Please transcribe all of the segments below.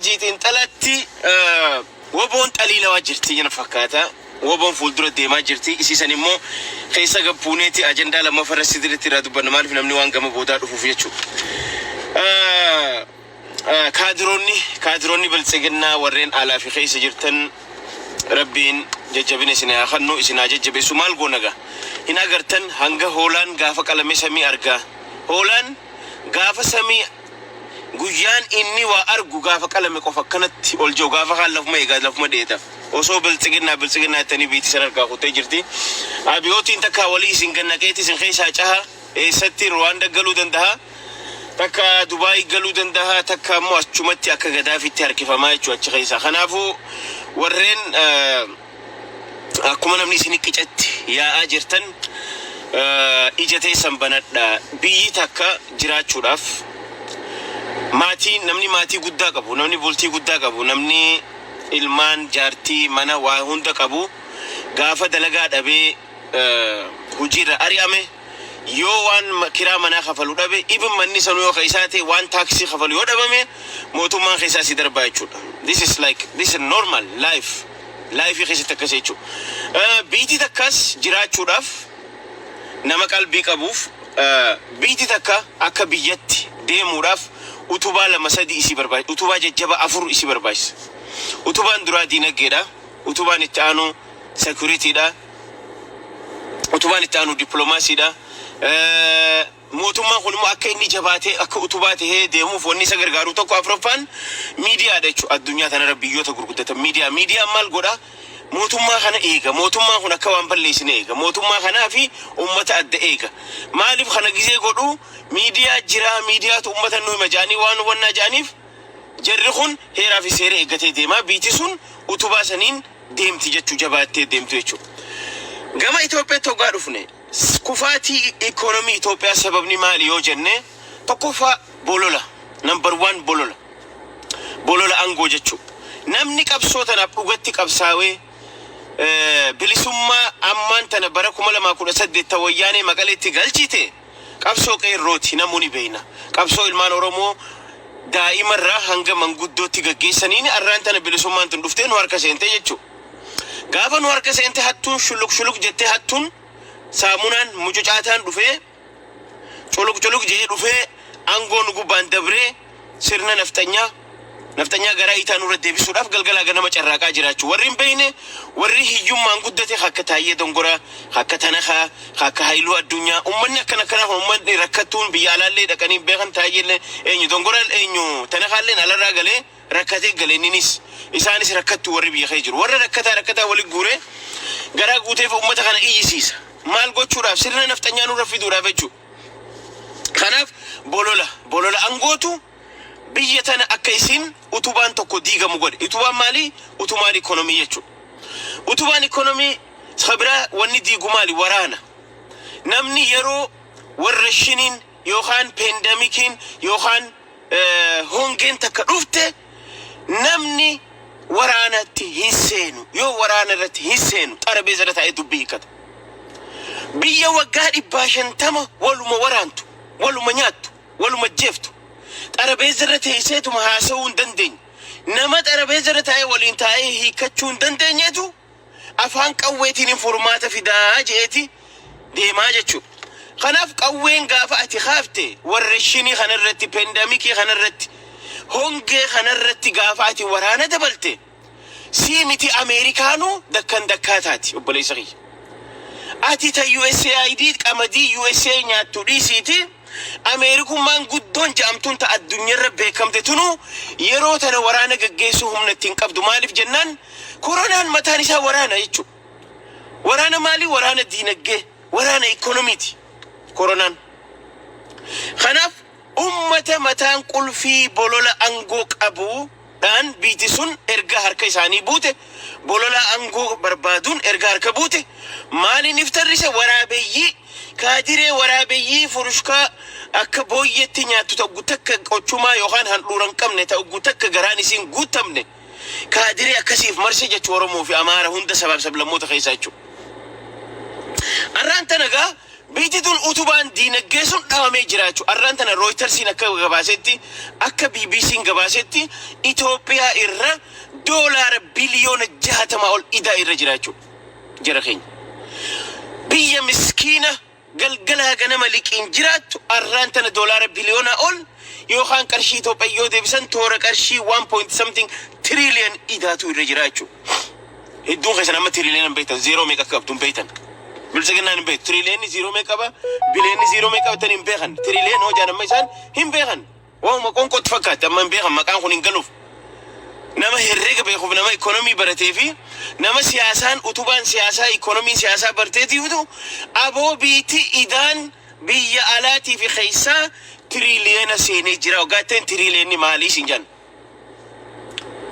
Hajii xinxalatti woboon xalii namaa jirtii jena fakkaata woboon fuuldura deemaa jirtii isii san immoo keessa gad buuneeti ajandaa lammafa irra sidiritti irraa dubbanna maalif namni waan gama boodaa dhufuuf jechu kaadiroonni kaadiroonni biltsiginnaa warreen alaa fi keessa jirtan rabbiin jajjabina isin haa kannu isin haa jajjabeessu maal goonaga hin agartan hanga hoolaan gaafa qalame samii argaa hoolaan gaafa samii Guyyaan inni waa argu gaafa qalame qofa akkanatti ol je'u gaafa kaan lafuma eega lafuma dheeda. Osoo biltsiginnaa biltsiginnaa jettanii biyti isan harkaa kuttee jirti. Abiyootiin takkaa wali isin gad naqeeti isin keessaa caha. Eessatti Ruwaanda galuu dandaha, takkaa Dubaayi galuu dandaha, takkaa immoo achumatti akka Gadaafiitti harkifamaa jechuudha achi keessaa. Kanaafuu warreen. Akkuma namni isin qicatti yaa'aa jirtan ija teessan banadhaa. Biyyi takka jiraachuudhaaf maatii namni maatii guddaa qabu, namni bultii guddaa qabu, namni ilmaan, jaartii, mana waa hunda qabu gaafa dalagaa dhabee hojiirra ari'ame yoo waan kiraa manaa kafalu dhabe even manni sanuu yoo ka isaa ta'e waan taaksii kafalu yoo dhabame mootummaan keessaa si darbaa jechuudha. This is like this is normal life. Life keessatti akkas jechu. Biitii takkaas jiraachuudhaaf nama qalbii qabuuf biitii takka akka biyyatti deemuudhaaf utubaa lama sadii isii barbaachisa. Utubaa jajjaba afur isii barbaachisa. Utubaan duraa diinaggeedha. Utubaan itti aanu securityidha. Utubaan itti aanu diplomaasiidha. Mootummaan kun immoo akka inni jabaatee akka utubaa tahee deemuuf wanni isa gargaaru tokko afraffaan miidiyaa dha jechuudha. Addunyaa tana irra biyyoota gurguddatan miidiyaa. Miidiyaan maal godha? Mootummaa kana eega. Mootummaan kun akka waan balleessine eega. Mootummaa kanaa fi ummata adda eega. Maaliif kana gizee godhu? Miidiyaa jira, miidiyaatu ummata nu hima jedhanii waan hubannaa jedhaniif jarri kun heeraa fi seera eeggatee deema. Biiti sun utubaa saniin deemti jechuu jabaattee deemtu jechuudha. Gama Itoophiyaatti hoggaa dhufne Kufaatii Ikoonomii Itoophiyaa sababni maali yoo jenne tokkoffaa bolola number one bolola bolola angoo jechuu namni qabsoo tanaaf dhugatti qabsaawee bilisummaa ammaan tana bara 2018 ta wayyaanee maqaleetti galchite qabsoo qeerrooti namuu ni beeyna qabsoo ilmaan oromoo daa'imarraa hanga manguddootti gaggeessaniin arraan tana bilisummaan tun dhuftee nu harka seentee jechuu Gaafa nu harka seente hattuun shuluq shuluq jettee hattuun saamunaan mucucaataan dhufee culuq culuq jedhee dhufee aangoo nu gubbaan dabree sirna nafxanyaa nafxanyaa garaa itaa nurra deebisuudhaaf galgalaa ganama carraaqaa jiraachuu warri hin beekne warri hiyyummaan guddate akka Taayyee Dongoraa akka Tanakaa akka Hayiluu Addunyaa ummanni akkan akkanaa kun ummanni rakkattuun biyya alaallee dhaqanii hin beekan Taayyeellee eenyu Dongoraan eenyu Tanakaalleen alarraa galee rakkatee gale inninis isaanis rakkattu warri biyya kee jiru warra rakkataa rakkataa wali guuree garaa guuteef ummata kana iyyisiisa maal gochuudhaaf sirna nafxanyaa nurra fiduudhaaf jechuu kanaaf bolola bolola angootu biyya tana akka isiin utubaan tokko diigamu godhe utubaan maalii utumaan ikonomii jechuu utubaan ikonomii sabiraa wanni diigu maali waraana namni yeroo warra shiniin yookaan peendamikiin yookaan hongeen takka dhufte namni waraanatti hin seenu. Yoo waraana irratti hin seenu xarabeeza irra taa'ee dubbii hiikkata. Biyya waggaa dhibbaa shantama waluma waraantu, waluma nyaattu, waluma jeeftu. Xarabeeza irra teesseetuma haasa'uu hin dandeenye. Nama xarabeeza irra taa'ee waliin taa'ee hiikkachuu hin dandeenyetu afaan qawweetiinin furmaata fidaa je'eeti deemaa jechuudha. Kanaaf qawween gaafa ati kaafte warreshinii kanarratti, pendamikii kanarratti, hongee kanarratti gaafa ati waraana dabalte sii miti Ameerikaanuu dakkan dakkaa taati obboleessa kiyya. Ati ta USAID qamadii USA nyaattu dhiisiiti. Ameerikummaan guddoon ja'amtuun ta addunyarra beekamte tunuu yeroo tana waraana gaggeessuu humna itti hin qabdu. Maaliif jennaan koronaan mataan isaa waraana jechuu. Waraana maalii? Waraana diinaggee, waraana ikkonomiiti koronaan. Kanaaf ummata mataan qulfii bolola angoo qabu. dhaan biyti sun erga harka isaanii buute, bololaa angoo barbaaduun erga harka buute, maaliin if tarrise waraabeyyii, kaadiree waraabeyyii furushkaa akka booyyeetti nyaattu ta'uggu takka qochumaa yookaan handhuura hin qabne ta'uggu takka garaan isii hin guuttamne kaadiree akkasii if marse jechu Oromoo fi Amaara hunda sabaaf sablammoota keessaa jechu. Arraan tana gaa. Biyyi tun utubaan diinagdee sun dhabamee jiraachu arraan tana Rooytarsiin akka gabaasetti akka BBCn gabaasetti Itoophiyaa irra doolaara biliyoona 60 ol idaa irra jiraachu jara keenya biyya miskiina galgalaa ganama liqiin jiraattu arraan tana doolaara biliyoonaa ol yookaan qarshii Itoophiyaa yoo deebisan toora qarshii 1 point something trillion idaatu irra jiraachu. Hedduun keessan amma tiriiliyoona hin beektan zeeroo meeqa akka qabdu hin beektan. Biltsiginnaan hin beektu tiriiliyoonni zeeroo meeqa qaba biliyoonni zeeroo meeqa qabatan hin beekan tiriiliyoon hojaan amma isaan hin beekan waanuma qonqootti fakkaatti amma hin beekan maqaan kun hin galuuf nama herreega beekuuf nama ikoonomii baratee fi nama siyaasaan utubaan siyaasaa ikoonomiin siyaasaa barteetiifitu aboo biitti idaan biyya alaatii fi keessaa tiriiliyoona seenee jira waggaatteen tiriiliyoonni maalii siin jenna.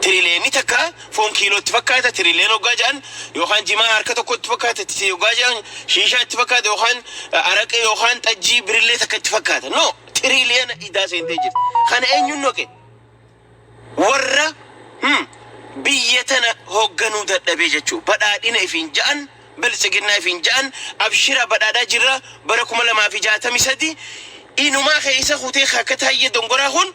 Tirileemii takka foon kiiloo itti fakkaata tirileen hoggaa ja'an yookaan jimaa harka tokko itti fakkaata itti hoggaa ja'an shiishaa itti fakkaata yookaan araqee yookaan xajjii birillee takka itti fakkaata no tirileena idaa seentee jirti kana eenyuun noqe warra hmm, biyya tana hoogganuu dadhabee jechuu badhaadhina ifiin ja'an biltsiginnaa ifiin ja'an abshira badhaadhaa jirra bara kuma lamaa fi jaatamii sadii inumaa keessa kutee akka taayyee dongoraa kun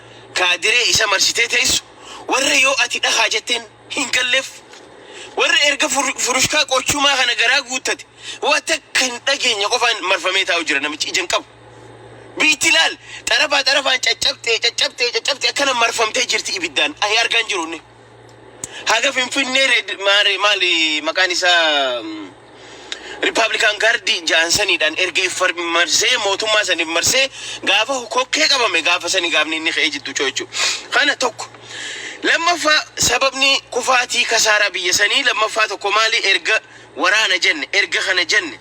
kaadiree isa marsitee teessu, warra yoo ati dhakaa jetteen hin galleef, warra erga furushkaa qochumaa kana garaa guuttate waa takka hin dhageenye qofaan marfamee taa'u jira namichi ija hin qabu. Biitti laal xarafaa xarafaan caccabxee caccabxee caccabxee akkana marfamtee jirti ibiddaan ahi argaan jiru inni. Haga Finfinnee Red Maare maali maqaan isaa Republican Guard ja'an saniidhaan erga if far- marsee mootummaa san if marsee gaafa kokkee qabame gaafa sani gaafni inni ka'ee jiddu co'echu. Kana tokko. Lammaffaa sababni kufaatii kasaaraa biyya sanii lammaffaa tokko maali erga waraana jenne erga kana jenne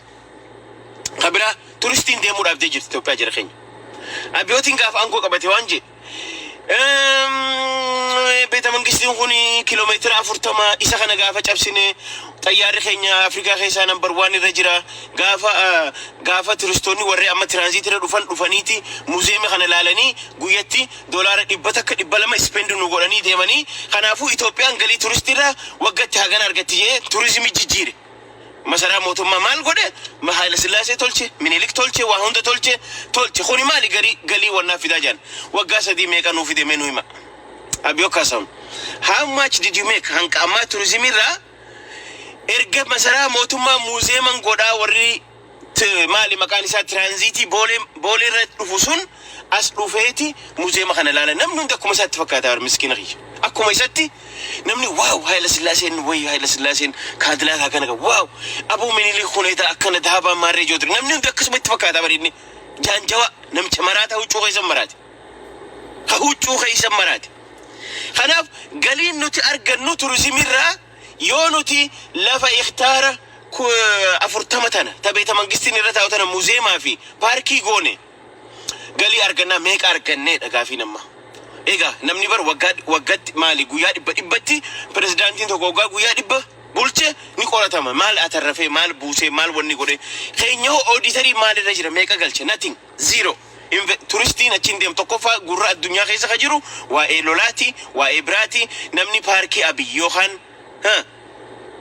ka biraa turistiin deemuu dhaabdee jirti Itoophiyaa jira keenya. Abiyootiin gaafa aangoo qabate waan jedhe Beeta Mangistiin kun kiiloomeetira afurtama isa kana gaafa cabsine xayyaarri keenya Afrikaa keessaa nambar waan irra jira. Gaafa gaafa turistoonni warri amma tiraanziitii irra dhufan dhufaniiti muuziyeemii kana ilaalanii guyyatti doolaara dhibba takka dhibba lama ispeendii nu godhanii deemanii. Kanaafuu Itoophiyaan galii turistiirraa waggatti hagana argatti jee turizimii jijjiire. Masaraa mootummaa maal godhe? Ma Haayila Sillaasee tolche? Minilik tolche? Waa hunda tolche? Tolche. Kuni maali garii galii wal naaf fidaa jedhan. Waggaa sadii meeqa nuu fide mee nuu himaa. Abiyoo Kaasaahun, How much did you make? Hanga ammaa turizimii irraa erga masaraa mootummaa muuziyeeman godhaa warri T maali maqaan isaa tiraanziitii boolee boolee irra dhufu sun as dhufeeti muzeema kana ilaala namni hundi akkuma isaatti fakkaata bar miskiina kiyya akkuma isatti namni waaw haayila sillaaseen wayyo haayila sillaaseen kaadilaakaa kana qaba waaw aboo minilii kuneeta akkana dahabaa maarree joodri namni hundi akkasuma itti fakkaata bar inni jaanjawa namicha maraata huccuu keessa maraate ha huccuu keessa maraate kanaaf galiin nuti argannu turizimiirraa Yoo nuti lafa hektaara 40 tana ta Beetamangistiin irra taa'u tana muzeemaa fi paarkii goone galii argannaa meeqa arganneedha gaafiin amma. Egaa namni bar waggaa waggatti maali guyyaa dhibba dhibbatti pirezidaantiin tokko waggaa guyyaa dhibba bulche ni qoratama maal atarrafee maal buusee maal wanni godhe keenyahoo ooditariin maalirra jira meeqa galche nothing. Zero. Inve turistiin achiin deemu tokkoffaa gurra addunyaa keessa ka jiru waa'ee lolaati, waa'ee biraati, namni paarkii Abiy yookaan huh,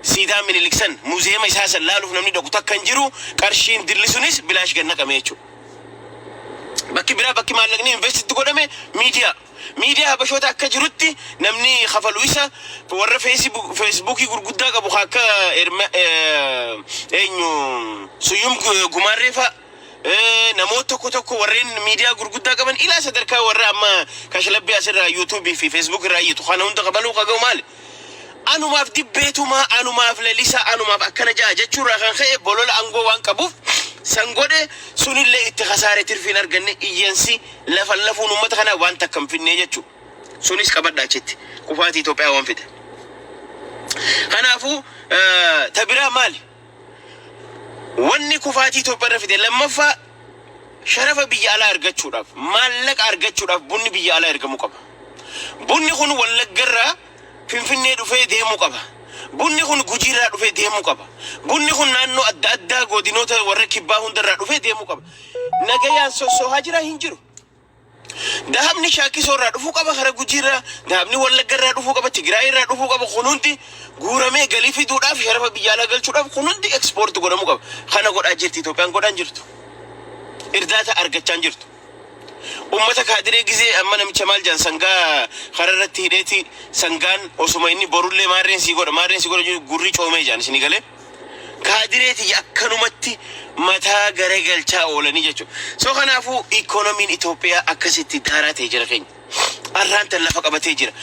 siidaa Minilik san, muziyeema isaa san laaluuf namni dhaqu takka hin jiru, qarshiin dilli sunis bilaash gad naqame jechuudha. Bakki biraa bakki maallaqni invest itti godhame miidiyaa. Miidiyaa Habashoota akka jirutti namni kafalu isa warra feesibu- feesbuukii gurguddaa qabu ka akka Erma- eh, eenyu Suyyum Gu- Gumaarree fa'a namoota tokko tokko warreen miidiyaa gurguddaa qaban ilaa sadarkaa warra amma kashlabbii asirraa yuutuubii fi feesbuuk irraa iyyatu kana hunda qabaluu qaga'u maali? Anumaaf dibbeetumaa anumaaf lalisaa anumaaf akkana ja'a jechuurraa kan ka'e bolola angoo waan qabuuf san godhe sunillee itti kasaare tirfiin arganne iyyansi lafan lafuun uummata kanaa waan takka hin finnee jechuudha. Sunis qabadha achitti kufaatii Itoophiyaa waan fide. Kanaafuu tabiraa maali? Wanni kufaatii Itoophiyaarra fide lammaffaa sharafa biyya alaa argachuudhaaf, maallaqa argachuudhaaf bunni biyya alaa ergamuu qaba. Bunni kun Wallaggarraa Finfinnee dhufee deemuu qaba. Bunni kun Gujiirraa dhufee deemuu qaba. Bunni kun naannoo adda addaa godinoota warra kibbaa hundarraa dhufee deemuu qaba. Nagayaan sossohaa jiraa? Hin jiru. Dahabni Shaakkisoo irraa dhufuu qaba, hara Gujii irraa, dahabni Wallagga irraa dhufuu qaba, Tigraay irraa dhufuu qaba. Kun hundi guuramee galii fiduudhaaf, sharafa biyya alaa galchuudhaaf kun hundi ekspoorti godhamuu qaba. Kana godhaa jirti Itoophiyaan godhaa hin jirtu. Irdaata argachaa hin jirtu. Uummata kaadiree gizee amma namicha maal jedhan sangaa hara irratti hidheeti sangaan osuma inni borullee maarreen sii godha maarreen sii godha jedhu gurri coomee jedhan isinii galee. kaadiree tiyya akkanumatti mataa garagalchaa oolanii jechuudha. So kanaafuu ikoonomiin Itoophiyaa akkasitti daaraa ta'e jira keenya. Arraan tan lafa qabatee jira.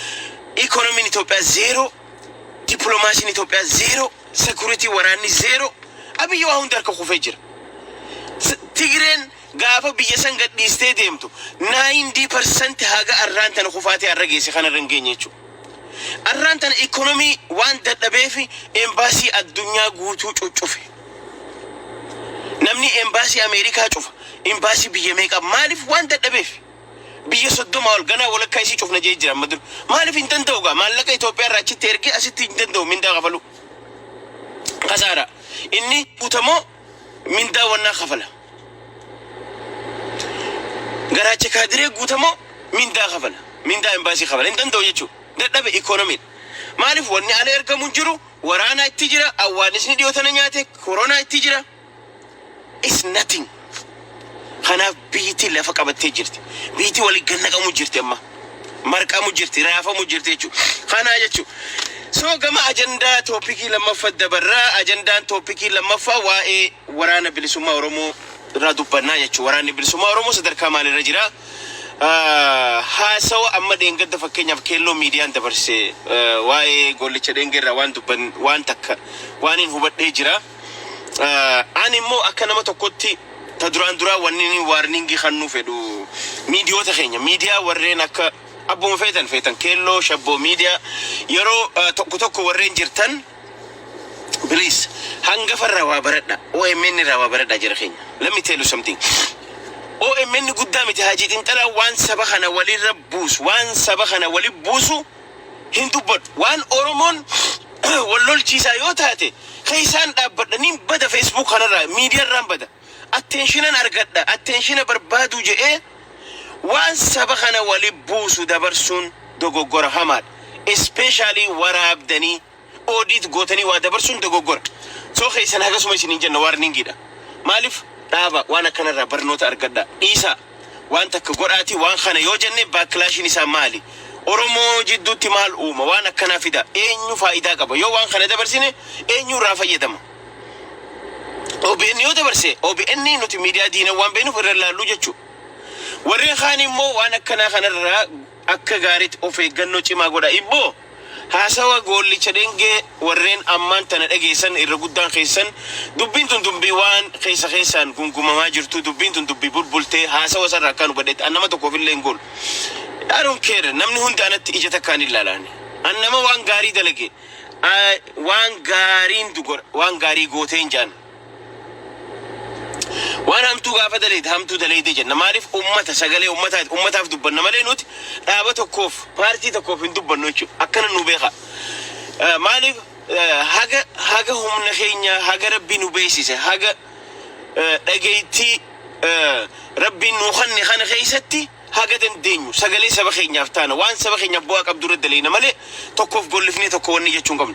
Ikoonomiin Itoophiyaa zeeroo, dippiloomaasiin Itoophiyaa zeeroo, sekuritii waraanni zeeroo. Abiyyi waa hunda harka kufee jira. S- Tigreen Gaafa biyya san gadhiistee deemtu 90% haga arraan tana kufaatii arra geesse kanarra hin geenye jechuudha. Arraan tana economy waan dadhabeef embassy addunyaa guutuu cuccufe. Namni embassy Ameerikaa cufa, embassy biyya meeqa maaliif waan dadhabeef. Biyya 30 ol ganaa walakkaa isii cufna jee jira amma dura. Maaliif hin danda'u gaa maallaqa Itoophiyaa irraa achitti ergee asitti hin danda'u mindaa kafaluu. Kasaaraa. Inni guutamoo mindaa wannaa kafala. Garaacha kaadiree guutamoo mindaa kafala. Mindaa embaasii kafala. Hin danda'u jechuudha. Dadhabe ikoonomiidha. Maaliif wanni ala ergamu hin jiru, waraanaa itti jira, awwaanisni dhiyoo tana nyaate, koronaa itti jira. It's nothing. Kanaaf biyyittiin lafa qabattee jirti. Biyyittiin waliin gad naqamu jirti amma. Marqamu jirti, raafamu jirti jechuu. Kanaa jechuu. So gama ajandaa toopikii lammaffaa dabarra. Ajandaan toopikii lammaffaa waa'ee waraana bilisummaa Oromoo irraa dubbannaa jechuu. Waraanni bilisummaa Oromoo sadarkaa maalirra jira? Haasawa amma dheengadda fakkeenyaaf keelloo miidiyaan dabarse waa'ee goollicha dheengee irraa waan dubban waan takka waan hin hubadhee jira. Ani immoo akka nama tokkotti ta duraan duraa wanni inni waarningii kannuu fedhu miidiyoota keenya miidiyaa warreen akka abbuma feetan feetan keelloo shabboo miidiyaa yeroo eh, tokko tokko warreen jirtan please hangafa irraa waa baradha OMN irraa waa baradha jira keenya let me tell you something OMN guddaa miti haajii xinxalaa waan saba kana walirra buusu waan saba kana wali buusu hin dubbadhu. Waan Oromoon wal lolchiisaa yoo taate keessaan dhaabbadha. Nin bada Facebook kanarraa, media irraan bada. Attentionan argadha. Attentiona barbaaduu jedhee waan saba kana wali buusu dabarsuun dogoggora hamaadha. Especially waraabdanii. Audit gootanii waa dabarsuun dogoggora. So keessan hagasuma isiniin jenna warning dha. Maaliif dhaaba waan akkana irraa barnoota argadhaa. Dhiisaa waan takka godhaatii waan kana yoo jenne backlashiin isaa maali? Oromoo jidduutti maal uuma? Waan akkanaa fidaa eenyu faayidaa qaba? Yoo waan kana dabarsine eenyu irraa fayyadama? OBN yoo dabarse OBN nuti miidiyaa diina waan beenuuf irra laalluu jechuu. Warreen kaan immoo waan akkanaa kanarraa Akka gaariitti of eeggannoo cimaa godhaa. Ibbo, Haasawa Goollicha Dhengee warreen ammaan tana dhageessan irra guddaan keessan dubbiin tun dubbii waan keessa keessaan gungumamaa jirtuu dubbiin tun dubbii bulbultee haasawa isarraa akkaan hubadhetti an nama tokkoof illee hin goolu I don't care namni hundi anatti ija takkaan hin laalaan an nama waan gaarii dalage waan gaariin waan gaarii gooteen jaan Waan hamtuu gaafa dalayde hamtuu dalayde jenna. Maaliif ummata sagalee ummataati. Ummataaf dubbanna malee nuti dhaaba tokkoof paartii tokkoof hin dubbannu jechuudha. Akkana nu beekaa. Eh, Maaliif eh, haga haga humna keenya haga rabbi nu beeksise haga eh, dhageettii eh, rabbiin nu kanne kana keessatti haga dandeenyu sagalee saba keenyaaf taana waan saba keenyaaf bu'aa qabdu irra dalayna malee tokkoof gollifnee tokko wanni jechuun qabnu.